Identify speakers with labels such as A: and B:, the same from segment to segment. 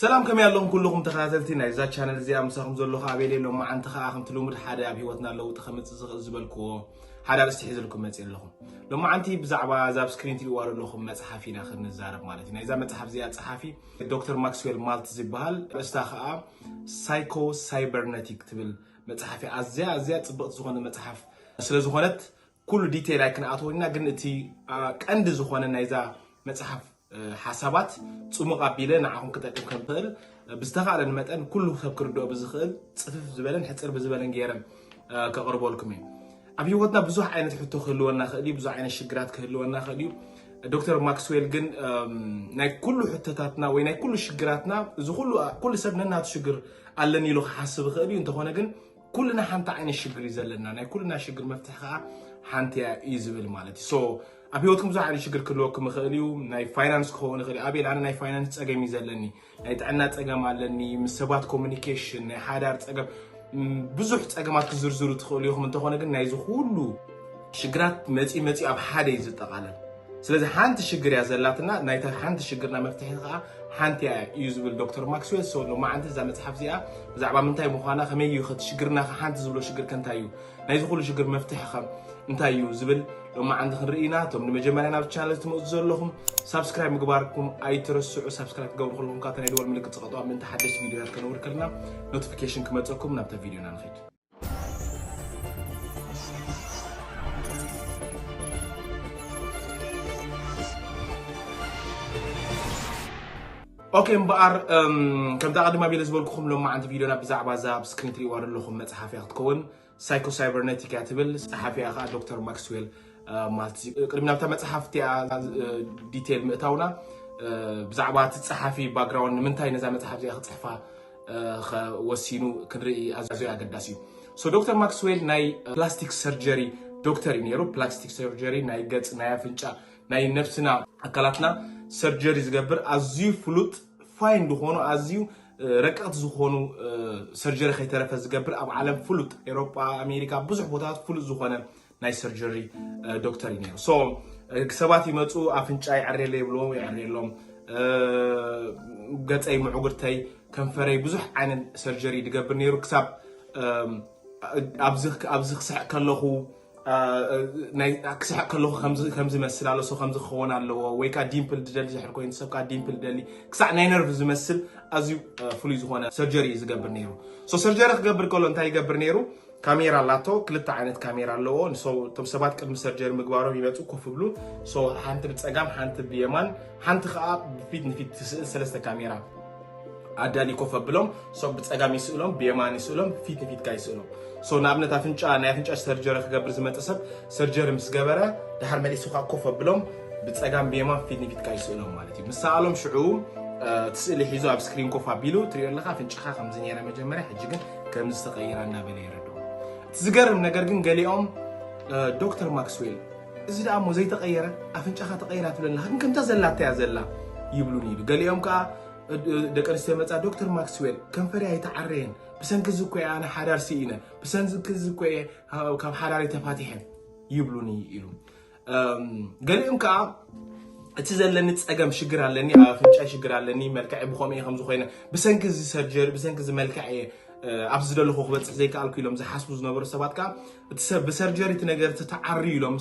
A: ሰላም ከመይ ኣለኹም ኩሉኹም ተኸታተልቲ ናይዛ ቻነል እዚኣ ምሳኹም ዘለኹ ኣቤሌ ሎማዓንቲ ከኣ ከምቲ ልሙድ ሓደ ኣብ ሂወትና ለውጢ ከምጽእ ዝኽእል ዝበልክዎ ሓደ ኣርእስቲ ሒዝልኩም መጽእ ኣለኹ ሎማዓንቲ ብዛዕባ እዛ ኣብ ስክሪን ትሪእዋ ዘለኹም መጽሓፍ ኢና ክንዛረብ ማለት እዩ ናይዛ መጽሓፍ እዚኣ ጸሓፊ ዶክተር ማክስዌል ማልት ዝበሃል ርእስታ ከኣ ሳይኮ ሳይበርነቲክ ትብል መጽሓፍ እያ ኣዝያ ኣዝያ ጽብቕቲ ዝኾነ መጽሓፍ ስለ ዝኾነት ኩሉ ዲቴይል ኣይክንኣትወን ኢና ግን እቲ ቀንዲ ዝኾነ ናይዛ መጽሓፍ ሓሳባት ፅሙቕ ኣቢለ ንዓኹም ክጠቅም ከም ኽእል ብዝተኻእለን መጠን ኩሉ ሰብ ክርድኦ ብዝኽእል ፅፍፍ ዝበለን ሕፅር ብዝበለን ገይረ ከቕርበልኩም እዩ ኣብ ህይወትና ብዙሕ ዓይነት ሕቶ ክህልወና ክእል እዩ ብዙ ዓይነት ሽግራት ክህልወና ክእል እዩ ዶክተር ማክስዌል ግን ናይ ኩሉ ሕቶታትና ወይ ናይ ኩሉ ሽግራትና እዚ ኩሉ ሰብ ነናቱ ሽግር ኣለኒ ኢሉ ክሓስብ ይኽእል እዩ እንተኾነ ግን ኩልና ሓንቲ ዓይነት ሽግር እዩ ዘለና ናይ ኩልና ሽግር መፍትሒ ከዓ ሓንቲ እያ እዩ ዝብል ማለት እዩ ሶ ኣብ ህይወትኩም ብዙሕ ዓይነት ሽግር ክህልወኩም ይኽእል እዩ ናይ ፋይናንስ ክኸውን ይኽእል እዩ ኣቤል ኣነ ናይ ፋይናንስ ፀገም እዩ ዘለኒ ናይ ጥዕና ፀገም ኣለኒ ምስ ሰባት ኮሚኒኬሽን ናይ ሓዳር ፀገም ብዙሕ ፀገማት ክዝርዝሩ ትኽእሉ ኢኹም እንተኾነ ግን ናይዚ ኩሉ ሽግራት መጺኡ መጺኡ ኣብ ሓደ እዩ ዝጠቓለል። ስለዚ ሓንቲ ሽግር እያ ዘላትና፣ ናይታ ሓንቲ ሽግርና መፍትሒ ከኣ ሓንቲ እያ እዩ ዝብል ዶክተር ማክስዌል። ሶ ሎማዓንቲ እዛ መጽሓፍ እዚኣ ብዛዕባ ምንታይ ምዃና፣ ከመይ እዩ ከቲ ሽግርና ከ ሓንቲ ዝብሎ ሽግር ከ እንታይ እዩ፣ ናይዚ ኩሉ ሽግር መፍትሒ ከ እንታይ እዩ ዝብል ሎማዓንቲ ክንርኢ ኢና። እቶም ንመጀመርያ ናብዚ ቻነል ትመጹ ዘለኹም ሳብስክራይብ ምግባርኩም ኣይትረስዑ። ሳብስክራይብ ክትገብሩ ከለኹም ከኣ እታ ናይ ደወል ምልክት ጽቐጡዋ ምእንቲ ሓደሽቲ ቪድዮታት ከነውሪ ከለና ኖቲፊኬሽን ክመጸኩም። ናብታ ቪድዮና ንኸይድ። ኦኬ እምበኣር ከምቲ ኣቐድማ ቤለ ዝበልኩኹም ሎማዓንቲ ቪድዮና ብዛዕባ እዛ ኣብ ስክሪን ትሪእዋ ዘለኹም መፅሓፍ እያ ክትከውን ሳይኮ ሳይበርነቲክ እያ ትብል ፀሓፊያ ከዓ ዶክተር ማክስዌል ማለት እዩ ቅድሚ ናብታ መፅሓፍ እቲኣ ዲቴል ምእታውና ብዛዕባ እቲ ፀሓፊ ባግራውንድ ንምንታይ ነዛ መፅሓፍ እዚኣ ክፅሕፋ ኸ ወሲኑ ክንርኢ ኣዝዩ ኣገዳሲ እዩ። ሶ ዶክተር ማክስዌል ናይ ፕላስቲክ ሰርጀሪ ዶክተር እዩ ነይሩ። ፕላስቲክ ሰርጀሪ ናይ ገጽ፣ ናይ ኣፍንጫ፣ ናይ ነብስና ኣካላትና ሰርጀሪ ዝገብር ኣዝዩ ፍሉጥ ፋይን ዝኾኑ ኣዝዩ ረቀቕቲ ዝኾኑ ሰርጀሪ ከይተረፈ ዝገብር ኣብ ዓለም ፍሉጥ ኤሮጳ፣ ኣሜሪካ ብዙሕ ቦታታት ፍሉጥ ዝኾነ ናይ ሰርጀሪ ዶክተር እዩ ነይሩ። ሶ ሰባት ይመፁ ኣፍንጫ ይዕሬለ ይብልዎ ይዕሬሎም፣ ገፀይ፣ ምዕጉርተይ፣ ከንፈረይ ብዙሕ ዓይነት ሰርጀሪ ድገብር ነይሩ ክሳብ ኣብዚ ክስሕቅ ከለኹ ክስሕቅ ከለኹ ከምዚ መስል ኣሎ ሰው ከምዚ ክኸውን ኣለዎ ወይ ከዓ ዲምፕል ድደሊ ዝሕር ኮይኑ ሰብ ከዓ ዲምፕል ደሊ ክሳዕ ናይ ነርቭ ዝመስል ኣዝዩ ፍሉይ ዝኾነ ሰርጀሪ እዩ ዝገብር ነይሩ። ሶ ሰርጀሪ ክገብር ከሎ እንታይ ይገብር ነይሩ? ካሜራ ኣላቶ ክልተ ዓይነት ካሜራ ኣለዎ እቶም ሰባት ቅድሚ ሰርጀሪ ምግባሮም ይመፁ ኮፍ ብሉ ሓንቲ ብፀጋም ሓንቲ ብየማን ሓንቲ ከዓ ብፊት ንፊት ትስእል ሰለስተ ካሜራ ኣዳሊ ኮፍ ኣብሎም ብፀጋም ይስእሎም ብየማን ይስእሎም ፊት ንፊትካ ይስእሎም ንኣብነት ኣፍንጫ ናይ ኣፍንጫ ሰርጀሪ ክገብር ዝመፀ ሰብ ሰርጀሪ ምስ ገበረ ድሓር መሊሱ ከዓ ኮፍ ኣብሎም ብፀጋም ብየማን ፊት ንፊትካ ይስእሎም ማለት እዩ ምሰኣሎም ሽዑ እቲ ስእሊ ሒዙ ኣብ ስክሪን ኮፍ ኣቢሉ ትሪኦ ኣለካ ኣፍንጫኻ ከምዚ ነይረ መጀመርያ ሕጂ ግን ከም ዝተቐይራ እናበለ የረድኦ። እቲ ዝገርም ነገር ግን ገሊኦም ዶክተር ማክስዌል እዚ ደኣ እሞ ዘይተቐየረ ኣፍንጫኻ ተቐይራ ትብለና ግን ከምታ ዘላታ እያ ዘላ ይብሉን ኢሉ ገሊኦም ከዓ ደቂ ኣንስትዮ መፃ ዶክተር ማክስዌል ከንፈሪ ኣይተዓረየን ብሰንኪ እዚ እኮ እየ ኣነ ሓዳር ስኢነ ብሰንኪ እዚ እኮ እየ ካብ ሓዳሪ ተፋቲሐ ይብሉኒ ኢሉ ገሊኦም ከዓ እቲ ዘለኒ ፀገም ሽግር ኣለኒ ኣብ ኣፍንጫይ ሽግር ኣለኒ መልክዐ ብከምኡ እየ ከምዚ ኮይነ ብሰንኪ እዚ ሰርጀሪ ብሰንኪ እዚ መልክዐ እየ ኣብዚ ዘለኹ ክበፅሕ ዘይከኣልኩ ኢሎም ዝሓስቡ ዝነበሩ ሰባት ከዓ እቲ ሰብ ብሰርጀሪ እቲ ነገር ተተዓርዩ ኢሎም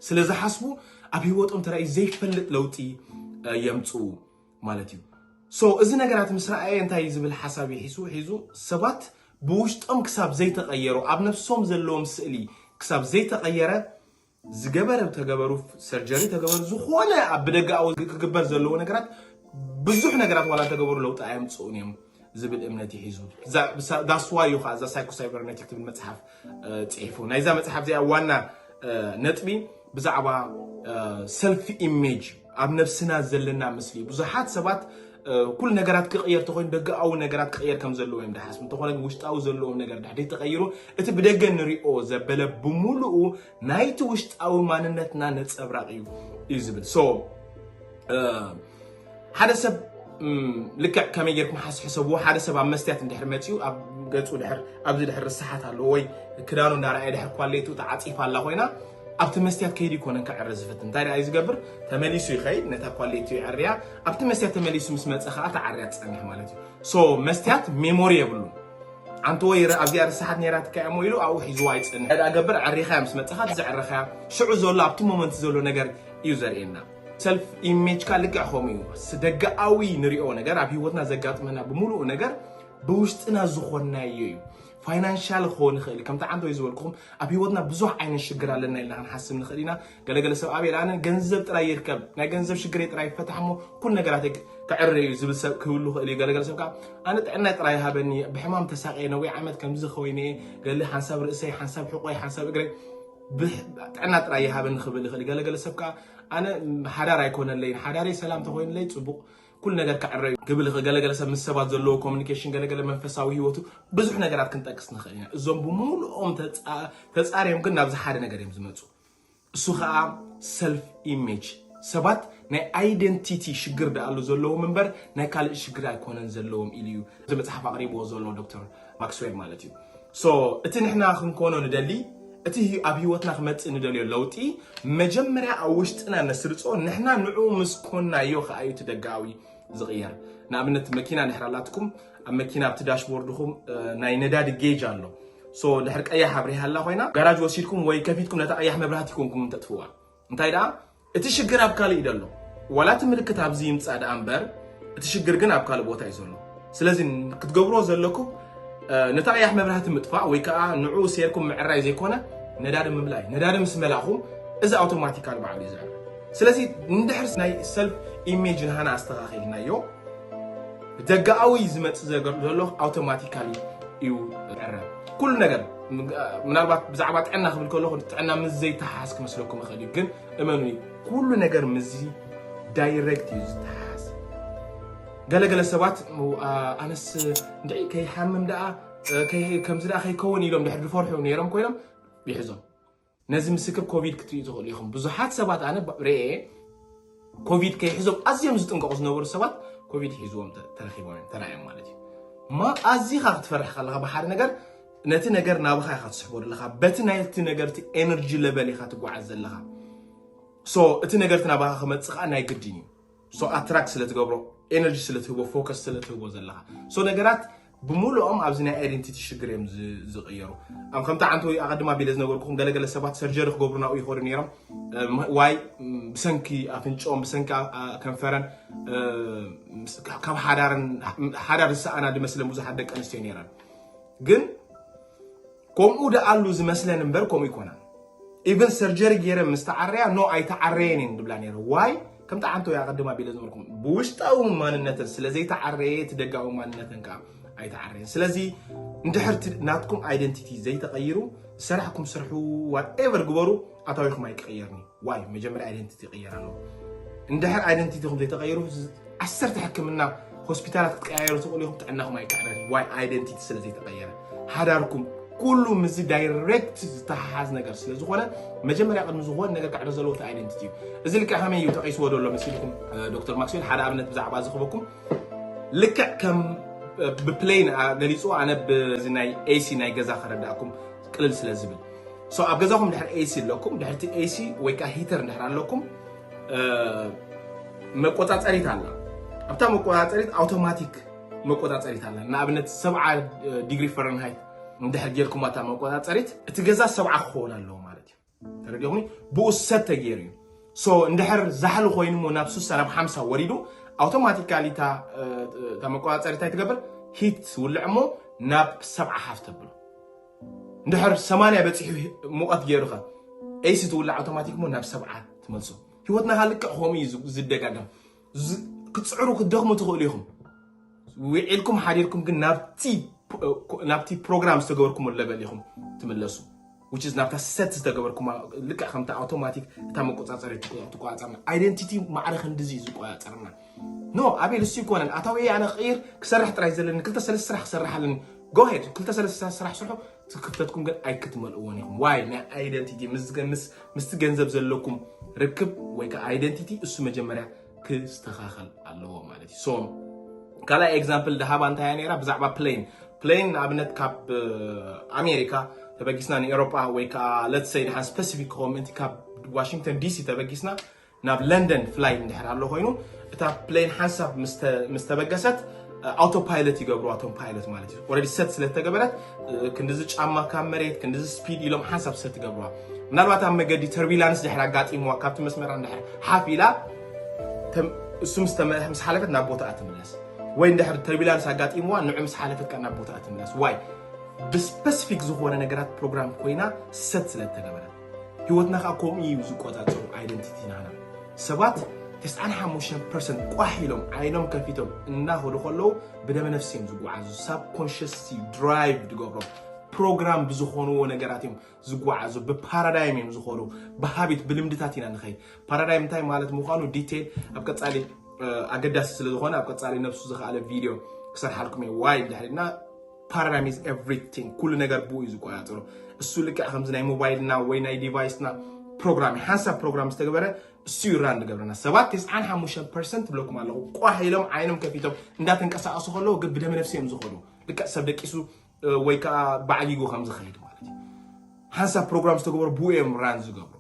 A: ስለ ዝሓስቡ ኣብ ሂወቶም ተራእዩ ዘይፈልጥ ለውጢ የምፅኡ ማለት እዩ ሶ እዚ ነገራት ምስ ረኣየ እንታይ እዩ ዝብል ሓሳብ ይሒሱ ሒዙ ሰባት ብውሽጦም ክሳብ ዘይተቐየሩ ኣብ ነፍሶም ዘለዎም ስእሊ ክሳብ ዘይተቐየረ ዝገበረ ተገበሩ ሰርጀሪ ተገበሩ ዝኾነ ኣብ ብደጋዊ ክግበር ዘለዎ ነገራት ብዙሕ ነገራት ዋላ ተገበሩ ለውጢ ኣየምፅኡን እዮም ዝብል እምነት ይሒዙ ዳስዋ እዩ ከዓ እዛ ሳይኮ ሳይበርነቲክ ትብል መፅሓፍ ፅሒፉ ናይዛ መፅሓፍ እዚኣ ዋና ነጥቢ ብዛዕባ ሰልፊ ኢሜጅ ኣብ ነብስና ዘለና ምስሊ ብዙሓት ሰባት ኩሉ ነገራት ክቕየር ተኮይኑ ደገኣዊ ነገራት ክቕየር ከም ዘለዎ እዮም ድሓስቡ እንተኾነ ግን ውሽጣዊ ዘለዎም ነገር ድሕደይ ተቐይሩ እቲ ብደገ ንሪኦ ዘበለ ብምሉኡ ናይቲ ውሽጣዊ ማንነትና ነፀብራቕ እዩ እዩ ዝብል ሶ ሓደ ሰብ ልክዕ ከመይ ጌርኩም ሓስ ሕሰብዎ ሓደ ሰብ ኣብ መስትያት እንድሕር መፅኡ ኣብ ገፁ ድሕር ኣብዚ ድሕር ርስሓት ኣለዎ ወይ ክዳኑ እንዳረኣየ ድሕር ኳሌቱ ተዓፂፋ ኣላ ኮይና ኣብቲ መስትያት ከይዱ ኣይኮነን ክዕሪ ዝፍትን እንታይ ደኣ እዩ ዝገብር ተመሊሱ ይኸይድ ነታ ኳሌቱ ይዕርያ ኣብቲ መስትያት ተመሊሱ ምስ መፀ ከዓ ተዓርያ ትፀንሕ ማለት እዩ ሶ መስትያት ሜሞሪ የብሉን ኣንቲ ወይ ኣብዚኣ ርሳሓት ነይራትካ እሞ ኢሉ ኣብኡ ሒዝዋ ይፅንሕ ዕዳ ገብር ዕሪኻያ ምስ መፀኻ እቲ ዘዕረኻያ ሽዑ ዘሎ ኣብቲ ሞመንት ዘሎ ነገር እዩ ዘርእየና ሰልፍ ኢሜጅካ ልክዕ ከምኡ እዩ ስደጋኣዊ ንሪኦ ነገር ኣብ ሂወትና ዘጋጥመና ብምሉኡ ነገር ብውሽጥና ዝኾንናዮ እዩ ፋይናንሻል ክኸውን ይኽእል እዩ ከምቲ ዓንተ ወይ ዝበልኩኹም ኣብ ሂወትና ብዙሕ ዓይነት ሽግር ኣለና ኢልና ክንሓስብ ንኽእል ኢና ገለገለ ሰብ ኣበይ ኣነ ገንዘብ ጥራይ ይርከብ ናይ ገንዘብ ሽግረይ ጥራይ ይፈታሕ እሞ ኩሉ ነገራት ክዕረ እዩ ዝብል ሰብ ክህሉ ይኽእል እዩ ገለገለ ሰብ ከዓ ኣነ ጥዕናይ ጥራይ ሃበኒ ብሕማም ተሳቀየ ነዊሕ ዓመት ከምዚ ኮይነ ገለ ሓንሳብ ርእሰይ ሓንሳብ ሕቆይ ሓንሳብ እግረይ ጥዕና ጥራይ ይሃበኒ ክብል ይኽእል ገለገለ ሰብ ከዓ ኣነ ሓዳር ኣይኮነለይን ሓዳረይ ሰላም ተኮይንለይ ፅቡቅ ኩሉ ነገር ክዕረ እዩ ክብል ይኽእል። ገለገለ ሰብ ምስ ሰባት ዘለዎ ኮሚኒኬሽን፣ ገለገለ መንፈሳዊ ህይወቱ፣ ብዙሕ ነገራት ክንጠቅስ ንኽእል ኢና። እዞም ብምሉኦም ተፃርዮም ግን ናብዚ ሓደ ነገር እዮም ዝመፁ። እሱ ከዓ ሰልፍ ኢሜጅ ሰባት ናይ ኣይደንቲቲ ሽግር ደኣሉ ዘለዎም እምበር ናይ ካልእ ሽግር ኣይኮነን ዘለዎም ኢሉ እዩ። እዚ መጽሓፍ ኣቕሪብዎ ዘሎ ዶክተር ማክስዌል ማለት እዩ። ሶ እቲ ንሕና ክንኮኖ ንደሊ እቲ ኣብ ህይወትና ክመጽእ ንደልዮ ለውጢ መጀመርያ ኣብ ውሽጥና ነስርጾ ንሕና ንዑ ምስ ኮናዮ ከኣ እዩ እቲ ደጋዊ ዝቕየር። ንኣብነት መኪና ንድሕር ኣላትኩም ኣብ መኪና ኣብቲ ዳሽቦርድኹም ናይ ነዳዲ ጌጅ ኣሎ ሶ ድሕር ቀያሕ ኣብሪሃላ ኮይና ጋራጅ ወሲድኩም ወይ ከፊትኩም ነታ ቀያሕ መብራህቲ ኮንኩም እንተጥፍዋ እንታይ ደኣ እቲ ሽግር ኣብ ካልእ እዩ ዘሎ ዋላ እቲ ምልክት ኣብዚ ይምፃእ ደኣ እምበር እቲ ሽግር ግን ኣብ ካልእ ቦታ እዩ ዘሎ ስለዚ ክትገብርዎ ዘለኩም ነቲ ቀያሕ መብራህቲ ምጥፋእ ወይ ከዓ ንዑ ሴርኩም ምዕራይ ዘይኮነ ነዳዲ ምምላይ ነዳዲ ምስ መላእኹም እዚ ኣውቶማቲካል ባዕሉ እዩ ዝዕረ ስለዚ ንድሕር ናይ ሰልፍ ኢሜጅ ንሃና ኣስተኻኺልናዮ ደጋኣዊ ዝመፅ ዘሎ ኣውቶማቲካሊ እዩ ዕረ ኩሉ ነገር ምናልባት ብዛዕባ ጥዕና ክብል ከለኹ ጥዕና ምስ ዘይተሓሓዝ ክመስለኩም ይኽእል እዩ ግን እመኑ ኩሉ ነገር ምስዚ ዳይሬክት እዩ ዝተሓሓዝ ገለገለ ሰባት ኣነስ እንድዒ ከይሓምም ደኣ ከምዚ ደኣ ከይከውን ኢሎም ድሕር ዝፈርሑ ነይሮም ኮይኖም ይሕዞም ነዚ ምስክር ኮቪድ ክትሪኡ ትኽእሉ ኢኹም። ብዙሓት ሰባት ኣነ ርኤ ኮቪድ ከይሕዞም ኣዝዮም ዝጥንቀቑ ዝነበሩ ሰባት ኮቪድ ሒዝዎም ተረኺቦም ተራእዮም ማለት እዩ። እማ ኣዚኻ ክትፈርሕ ከለኻ ብሓደ ነገር ነቲ ነገር ናብኻ ኢኻ ትስሕቦ ዘለኻ በቲ ናይቲ ነገር እቲ ኤነርጂ ለቨል ኢኻ ትጓዓዝ ዘለኻ ሶ እቲ ነገርቲ ናባኻ ክመፅእ ከዓ ናይ ግድን እዩ ሶ ኣትራክት ስለ ትገብሮ ኤነርጂ ስለ ትህቦ ፎከስ ስለ ትህቦ ዘለኻ ሶ ነገራት ብምሉኦም ኣብዚ ናይ ኣይደንቲቲ ሽግር እዮም ዝቕየሩ ኣብ ከምቲ ዓንተ ወይ ኣቐድማ ቢለ ዝነገርኩኹም ገለገለ ሰባት ሰርጀሪ ክገብሩ ናብኡ ይኸዱ ነይሮም ዋይ ብሰንኪ ኣፍንጮም ብሰንኪ ከንፈረን ካብ ሓዳርን ሓዳር ዝሰኣና ድመስለን ብዙሓት ደቂ ኣንስትዮ ነይረን ግን ኮምኡ ደኣሉ ዝመስለን እምበር ኮምኡ ይኮናን ኢቨን ሰርጀሪ ገይረ ምስ ተዓረያ ኖ ኣይተዓረየን እየን ድብላ ነይረ ዋይ ከም ጠዓንቶ ያቀድም ኣቢለ ዝበልኩም ብውሽጣዊ ማንነትን ስለዘይተዓረየ እቲ ደጋዊ ማንነትን ከዓ ኣይተዓረየን ስለዚ እንድሕርቲ ናትኩም ኣይደንቲቲ ዘይተቐይሩ ሰራሕኩም ስርሑ ዋትኤቨር ግበሩ ኣታዊኹም ኣይቀየርኒ ዋይ መጀመርያ ኣይደንቲቲ ይቅየር ኣለዎ እንድሕር ኣይደንቲቲኹም ዘይተቀይሩ ዓሰርተ ሕክምና ሆስፒታላት ክትቀያየሩ ትኽእሉ ኢኹም ጥዕናኹም ኣይክዕረን ዋይ ኣይደንቲቲ ስለ ዘይተቀየረ ሃዳርኩም ኩሉ ምስዚ ዳይሬክት ዝተሓሓዝ ነገር ስለ ዝኾነ መጀመርያ ቅድሚ ዝኾነ ነገር ክዕረ ዘለዎ እቲ ኣይደንቲቲ እዩ እዚ ልክዕ ከመይ እዩ ተቂስዎ ደሎ መሲልኩም ዶክተር ማክስዌል ሓደ ኣብነት ብዛዕባ ዝኽበኩም ልክዕ ከም ብፕሌን ገሊፁ ኣነ ብዚ ናይ ኤሲ ናይ ገዛ ከረዳእኩም ቅልል ስለ ዝብል ሶ ኣብ ገዛኹም ድሕር ኤሲ ኣለኩም ድሕርቲ ኤሲ ወይ ከዓ ሂተር ድሕር ኣለኩም መቆፃፀሪት ኣላ ኣብታ መቆፃፀሪት ኣውቶማቲክ መቆፃፀሪት ኣላ ንኣብነት ሰብዓ ዲግሪ ፈረንሃይት እንድሕር ጌርኩም ኣታ መቆፃፀሪት እቲ ገዛ ሰብዓ ክኸውን ኣለዎ ማለት እዩ ተረዲኹኒ ብኡ ሰት ተገይሩ እዩ ሶ እንድሕር ዛሕሊ ኮይኑ ሞ ናብ ሱሳ ናብ ሓምሳ ወሪዱ ኣውቶማቲካሊ እታ መቆፃፀሪ እንታይ ትገብር ሂት ትውልዕ እሞ ናብ ሰብዓ ሓፍ ተብሎ እንድሕር ሰማንያ በፂሑ ሙቐት ገይሩ ኸ ኤሲ ትውልዕ ኣውቶማቲክ ሞ ናብ ሰብዓ ትመልሶ ህይወትና ካልክዕ ከምኡ እዩ ዝደጋገም ክትፅዕሩ ክትደኽሙ ትኽእሉ ኢኹም ውዒልኩም ሓዲርኩም ግን ናብቲ ፕሮግራም ዝተገበርኩሞ ለበል ኢኹም ትምለሱ which is ናብታ ሰት ዝተገበርኩማ ልክዕ ከምቲ ኣውቶማቲክ እታ መቆፃፀሪ ትቆፃፀርና ኣይደንቲቲ ማዕረ ክንዲዚ እዩ ዝቆፃፀርና ኖ ኣቤል እሱ ይኮነን ኣታዊ ኣነ ክቕይር ክሰርሕ ጥራይ ዘለኒ ክልተ ሰለስተ ስራሕ ክሰርሕ ኣለኒ ጎሄድ ክልተ ሰለስተ ስራሕ ስርሑ እቲ ክፍተትኩም ግን ኣይክትመልእዎን ኢኹም ዋይ ናይ ኣይደንቲቲ ምስቲ ገንዘብ ዘለኩም ርክብ ወይ ከዓ ኣይደንቲቲ እሱ መጀመርያ ክስተኻኸል ኣለዎ ማለት እዩ ሶ ካልኣይ ኤግዛምፕል ድሃባ እንታይ ነራ ብዛዕባ ፕሌን ፕሌን ንኣብነት ካብ ኣሜሪካ ተበጊስና ንኤሮጳ ወይ ከዓ ለትሰይ ድሓን ስፐሲፊክ ክኸውን ምእንቲ ካብ ዋሽንግተን ዲሲ ተበጊስና ናብ ለንደን ፍላይት እንድሕር ኣሎ ኮይኑ እታ ፕሌን ሓንሳብ ምስ ተበገሰት ኣውቶ ፓይለት ይገብርዋ እቶም ፓይለት ማለት እዩ ኦልሬዲ ሰት ስለ ዝተገበረት ክንዲዚ ጫማ ካብ መሬት ክንዲዚ ስፒድ ኢሎም ሓንሳብ ሰት ይገብርዋ ምናልባት ኣብ መገዲ ተርቢላንስ ድሕር ኣጋጢምዋ ካብቲ መስመራ ድሕር ሓፍ ኢላ እሱ ምስ ሓለፈት ናብ ቦታኣ ትምለስ ወይ እንድሕር ተርቢላንስ ኣጋጢምዋ ንዑ ምስ ሓለፈት ካብ ናብ ቦታኣ ትምለስ ዋይ ብስፐሲፊክ ዝኾነ ነገራት ፕሮግራም ኮይና ሰት ስለ ዝተገበረት ህይወትና ከዓ ከምኡ እዩ ዝቆፃፀሩ ኣይደንቲቲ ናና ሰባት ተስዓን ሓሙሽተን ፐርሰንት ቋሕ ኢሎም ዓይኖም ከፊቶም እናኸዱ ከለዉ ብደመ ነፍሲ እዮም ዝጓዓዙ ሳብ ኮንሽስቲ ድራይቭ ዝገብሮም ፕሮግራም ብዝኾንዎ ነገራት እዮም ዝጓዓዙ ብፓራዳይም እዮም ዝኾኑ ብሃቢት ብልምድታት ኢና ንኸይድ ፓራዳይም እንታይ ማለት ምዃኑ ዲቴይል ኣብ ቀፃሊ ኣገዳሲ ስለ ዝኾነ ኣብ ቀፃሊ ነብሱ ዝኸኣለ ቪድዮ ክሰርሓልኩም እየ ዋይ ድሕሪና ፓራዳይም ኢዝ ኤቭሪቲንግ ኩሉ ነገር ብኡ እዩ ዝቆፃፀሮ እሱ ልክዕ ከምዚ ናይ ሞባይልና ወይ ናይ ዲቫይስና ፕሮግራም እዩ ሓንሳብ ፕሮግራም ዝተገበረ እሱ እዩ ራን ዝገብረና ሰባት ትስዓን ሓሙሽተ ፐርሰንት ብለኩም ኣለኹ ቋሕ ኢሎም ዓይኖም ከፊቶም እንዳተንቀሳቀሱ ከለዉ ግን ብደመ ነፍሲ እዮም ዝኸዱ ልክዕ ሰብ ደቂሱ ወይ ከዓ ባዕጊጉ ከም ዝኸይድ ማለት እዩ ሓንሳብ ፕሮግራም ዝተገበሩ ብኡ እዮም ራን ዝገብሩ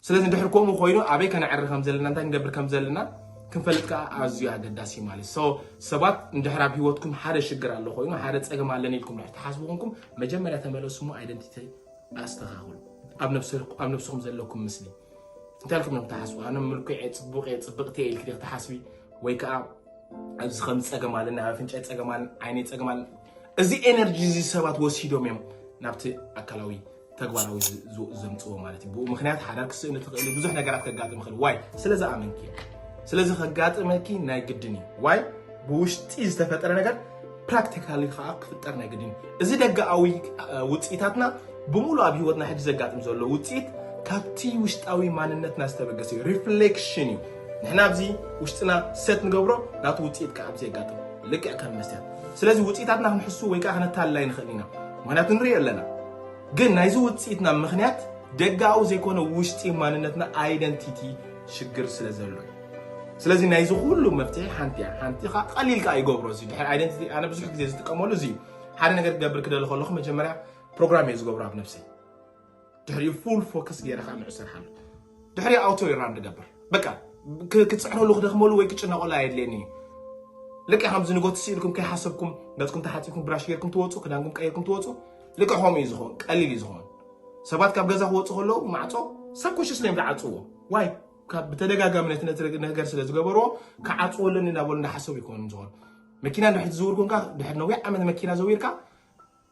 A: ስለዚ ድሕር ከምኡ ኮይኑ ኣበይ ከነዕሪ ከም ዘለና እንታይ ክንገብር ከም ዘለና ክንፈልጥ ከዓ ኣዝዩ ኣገዳሲ እዩ ማለት ሰው ሰባት እንድሕር ኣብ ሂወትኩም ሓደ ሽግር ኣሎ ኮይኑ ሓደ ፀገም ኣለኒ ኢልኩም ድሕር ትሓስቡ ኮንኩም መጀመርያ ተመለሱ ሞ ኣይደንቲቲ ኣስተኻኽሉ ኣብ ነብስኹም ዘለኩም ምስሊ እንታይ ኢልኩም እዮም ትሓስቡ ኣነ ምልኩዕ እየ ፅቡቅ እየ ፅብቅቲ እየ ኢልክ ክትሓስቢ ወይ ከዓ ኣብዚ ከም ፀገም ኣለኒ ኣብ ኣፍንጫ ፀገም ኣለኒ ዓይነይ ፀገም ኣለኒ እዚ ኤነርጂ እዚ ሰባት ወሲዶም እዮም ናብቲ ኣካላዊ ተግባራዊ ዘምፅዎ ማለት እዩ ብኡ ምክንያት ሓዳር ክስእን ትኽእል ብዙሕ ነገራት ከጋጥም ይኽእል ዋይ ስለ ዝኣመንኪ ስለዚ ከጋጥመኪ ናይ ግድን እዩ ዋይ ብውሽጢ ዝተፈጠረ ነገር ፕራክቲካሊ ከዓ ክፍጠር ናይ ግድን እዩ እዚ ደጋኣዊ ውፅኢታትና ብምሉ ኣብ ሂወትና ሕጂ ዘጋጥም ዘሎ ውፅኢት ካብቲ ውሽጣዊ ማንነትና ዝተበገሰ እዩ ሪፍሌክሽን እዩ ንሕና ኣብዚ ውሽጥና ሰት ንገብሮ ናቱ ውፅኢት ከዓ ኣብዚ የጋጥም ልክዕ ከም መስትያት ስለዚ ውፅኢታትና ክንሕሱ ወይ ከዓ ክነታልላይ ንኽእል ኢና ምክንያቱ ንርኢ ኣለና ግን ናይዚ ውፅኢትና ምክንያት ደጋዊ ዘይኮነ ውሽጢ ማንነትና ኣይደንቲቲ ሽግር ስለ ዘሎ እዩ ስለዚ ናይዚ ኩሉ መፍትሒ ሓንቲ እያ ሓንቲ ከዓ ቀሊል ከዓ ይገብሮ እዚ ድሕሪ ኣይደንቲቲ ኣነ ብዙሕ ግዜ ዝጥቀመሉ እዚ እዩ ሓደ ነገር ክገብር ክደሊ ከለኹ መጀመርያ ፕሮግራም እየ ዝገብሮ ኣብ ነብሰይ ድሕሪኡ ፉል ፎከስ ገይረ ከዓ ንዑ ስራሕ ኣሎ ድሕሪ ኣውቶ ይራን ንገብር በቃ ክፅዕረሉ ክደክመሉ ወይ ክጭነቀሉ ኣየድልየኒ እዩ ልክዕ ከምዚ ንጎት ስኢልኩም ከይሓሰብኩም ገፅኩም ተሓፂብኩም ብራሽ ጌርኩም ትወፁ ክዳንኩም ቀይርኩም ትወፁ ልክዕ ከምኡ እዩ ዝኸውን ቀሊል እዩ ዝኸውን ሰባት ካብ ገዛ ክወፁ ከለዉ ማዕፆ ሰብ ኮሽስ ነዮም ዝዓፅዎ ዋይ ካብ ብተደጋጋሚ ነቲ ነገር ስለ ዝገበርዎ ክዓፅዎ ኣለኒ እናበሉ እናሓሰቡ ይኮኑ ዝኮኑ መኪና ድሕሪ ዝዝውር ኮንካ ድሕሪ ነዊሕ ዓመት መኪና ዘዊርካ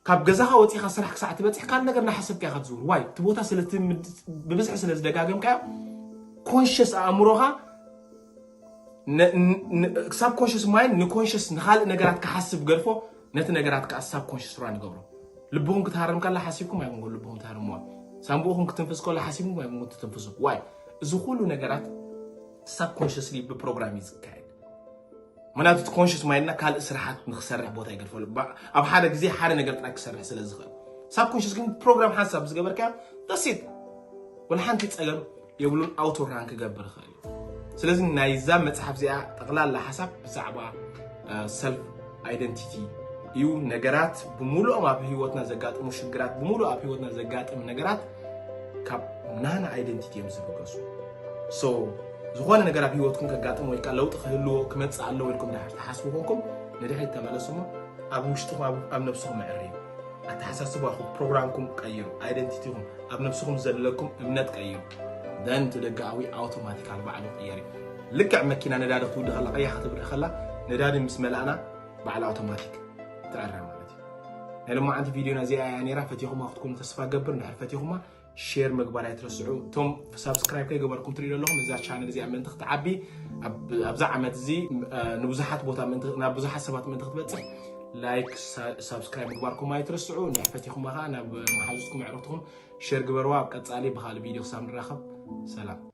A: ካብ ገዛኻ ወፂኻ ስራሕ ክሳዕ ትበፅሕ ካልእ ነገር እናሓሰብካ ኢኻ ትዝውር ዋይ እቲ ቦታ ብብዝሒ ስለ ዝደጋገምካዮ ኮንሽስ ኣእምሮኻ ሳብ ኮንሽስ ማይን ንኮንሽስ ንካልእ ነገራት ክሓስብ ገድፎ ነቲ ነገራት ከዓ ሳብ ኮንሽስ ራ ንገብሮ ልብኹም ክትሃርም ከላ ሓሲብኩም ኣይኮንኩ ልብኹም ትሃርምዋ ሳንቡእኹም ክትንፍስ ከሎ ሓሲብኩም ኣይኮንኩ ትትንፍሱ ዋይ እዚ ኩሉ ነገራት ሳብ ኮንሽስሊ ብፕሮግራም እዩ ዝካየድ ምክንያቱ እቲ ኮንሽስ ማይንድና ካልእ ስራሓት ንክሰርሕ ቦታ ይገድፈሉ ኣብ ሓደ ግዜ ሓደ ነገር ጥራይ ክሰርሕ ስለ ዝኽእል ሳብ ኮንሽስ ግን ፕሮግራም ሓንሳብ ምስ ገበርካዮ ደሴት ወላ ሓንቲ ፀገም የብሉን ኣውቶ ራን ክገብር ይኽእል እዩ ስለዚ ናይዛ መፅሓፍ እዚኣ ጠቕላላ ሓሳብ ብዛዕባ ሰልፍ ኣይደንቲቲ እዩ ነገራት ብምሉኦም ኣብ ህይወትና ዘጋጥሙ ሽግራት ብምሉእ ኣብ ህይወትና ዘጋጥም ነገራት ካብ ናና ኣይደንቲቲ እዮም ዝብገሱ ዝኾነ ነገር ኣብ ህይወትኩም ከጋጥም ወይ ከዓ ለውጢ ክህልዎ ክመፅእ ኣለዎ ኢልኩም ድሓር ትሓስቡ ኮንኩም ንድሕሪት ተመለሱ እሞ ኣብ ውሽጥኹም ኣብ ነብስኹም ኣዕርዩ ኣተሓሳስባኹም ፕሮግራምኩም ቀይሩ ኣይደንቲቲኹም ኣብ ነብስኹም ዘለኩም እምነት ቀይሩ ደን እቲ ደጋኣዊ ኣውቶማቲካል ባዕሉ ቅየር እዩ ልክዕ መኪና ነዳዲ ክትውዲ ከላ ቀያ ክትብሪ ከላ ነዳዲ ምስ መላእና ባዕሉ ኣውቶማቲክ ትዕረ ማለት እዩ ናይ ሎማዓንቲ ቪድዮና እዚኣ እያ ነይራ ፈቲኹማ ክትኮኑ ተስፋ ገብር እንድሕር ፈቲኹማ ሼር ምግባር ኣይትረስዑ እቶም ሳብስክራይብ ከይገበርኩም ትሪኡ ዘለኹም እዛ ቻነል እዚኣ ምእንቲ ክትዓቢ ኣብዚ ዓመት እዚ ንብዙሓት ቦታ ናብ ብዙሓት ሰባት ምእንቲ ክትበፅሕ ላይክ ሳብስክራይብ ምግባርኩም ኣይትረስዑ እንድሕ ፈቲኹማ ከዓ ናብ መሓዙትኩም ኣዕሩኽትኩም ሼር ግበርዋ ኣብ ቀፃሊ ብካልእ ቪድዮ ክሳብ ንራኸብ ሰላም